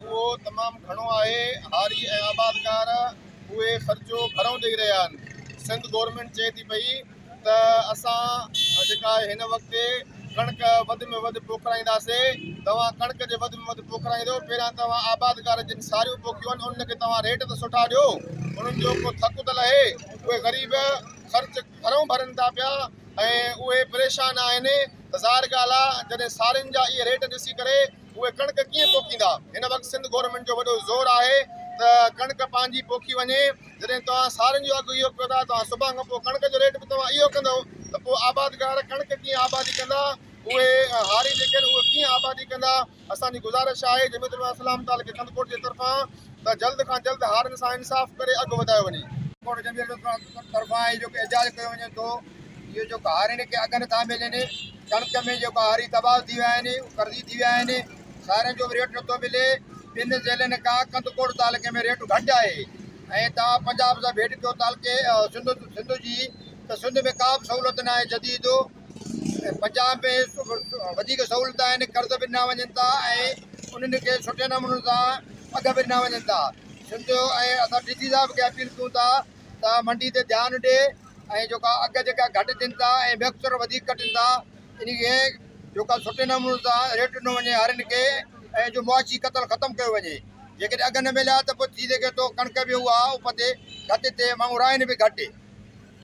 اهو تمام گهڻو آهي، هاري ۽ آبادگار اهي خرچو گهرئون ڏئي رهيا آهن، سنڌ گورنمينٽ چئي ٿي پئي ته اسان جيڪا آهي هن وقت ڪڻڪ وڌ ۾ وڌ پوکرائينداسي، توهان ڪڻڪ جي وڌ ۾ وڌ پوکرائيندو پهريان توهان آبادگار جن ساريون پوکيون آهن انهن کي توهان ريٽ ته سٺا ڏيو انهن جو ڪو ٿڪ ته لهي، اهي غريب خرچ گهرئون ڀرن ٿا پيا ۽ اهي پريشان آهن ته ظاهر ڳالهه آهي جڏهن سارين جا اهي ريٽ ڏسي ڪري اهي ڪڻڪ ڪيئن پوکيندا هن وقت سنڌ گورنمينٽ جو وڏو زور آهي ته ڪڻڪ پنهنجي پوکي وڃي جڏهن توهان سارن جو اگهه اهو ڪيو ٿا توهان سڀان کان پوء ڪڻڪ جو ريٽ به توهان اهو ڪندو ته پوء آبادگار ڪڻڪ ڪيئن آبادي ڪندا اهي هاري جيڪي آهن اهي ڪيئن آبادي ڪندا اسان جي گذارش آهي جميعت علماء اسلام تعلقي خندڪوٽ جي طرفان ته جلد کان جلد هارين سان انصاف ڪري اگهه وڌايو وڃي. خندڪوٽ جميعت علماء طرفان هي جيڪو احتجاج ڪيو وڃي ٿو. اهو جيڪو هاري نڪي اگهه نه ٿا ملين، ڪڻڪ ۾ جيڪو هاري تباهه ٿي ويا آهن، اهو قرضي ٿي ويا آهن، سارن جو به ريٽ نه ٿو ملي، ٻن ضلعن کان ڪنڌڪوٽ تعلقي ۾ ريٽ گهٽ آهي ۽ توهان پنجاب سان ڀيٽ ڪيو تعلقي سنڌ جي ته سنڌ ۾ ڪا به سهولت ناهي جديد، پنجاب ۾ وڌيڪ سهولت آهن، قرض به ڏنا وڃن ٿا ۽ انهن کي سٺي نموني سان اگهه به ڏنا وڃن ٿا، سنڌ ۽ اسان ڊي سي صاحب کي اپيل ڪيون ٿا. ته منڊي تي ڌيان ڏي ۽ جيڪا اگهه جيڪا گهٽ ٿين ٿا ۽ ميڪسچر وڌيڪ ڪٽن ٿا ان کي جيڪا سٺي نموني سان ريٽ ڏنو وڃي هارين کي ۽ جو معاشي قتل ختم ڪيو وڃي جيڪڏهن اگهه نه مليا ته پوء ٿي سگهي ٿو ڪڻڪ به اها اپ تي گهٽ ٿئي ماڻهو راهين به گهٽ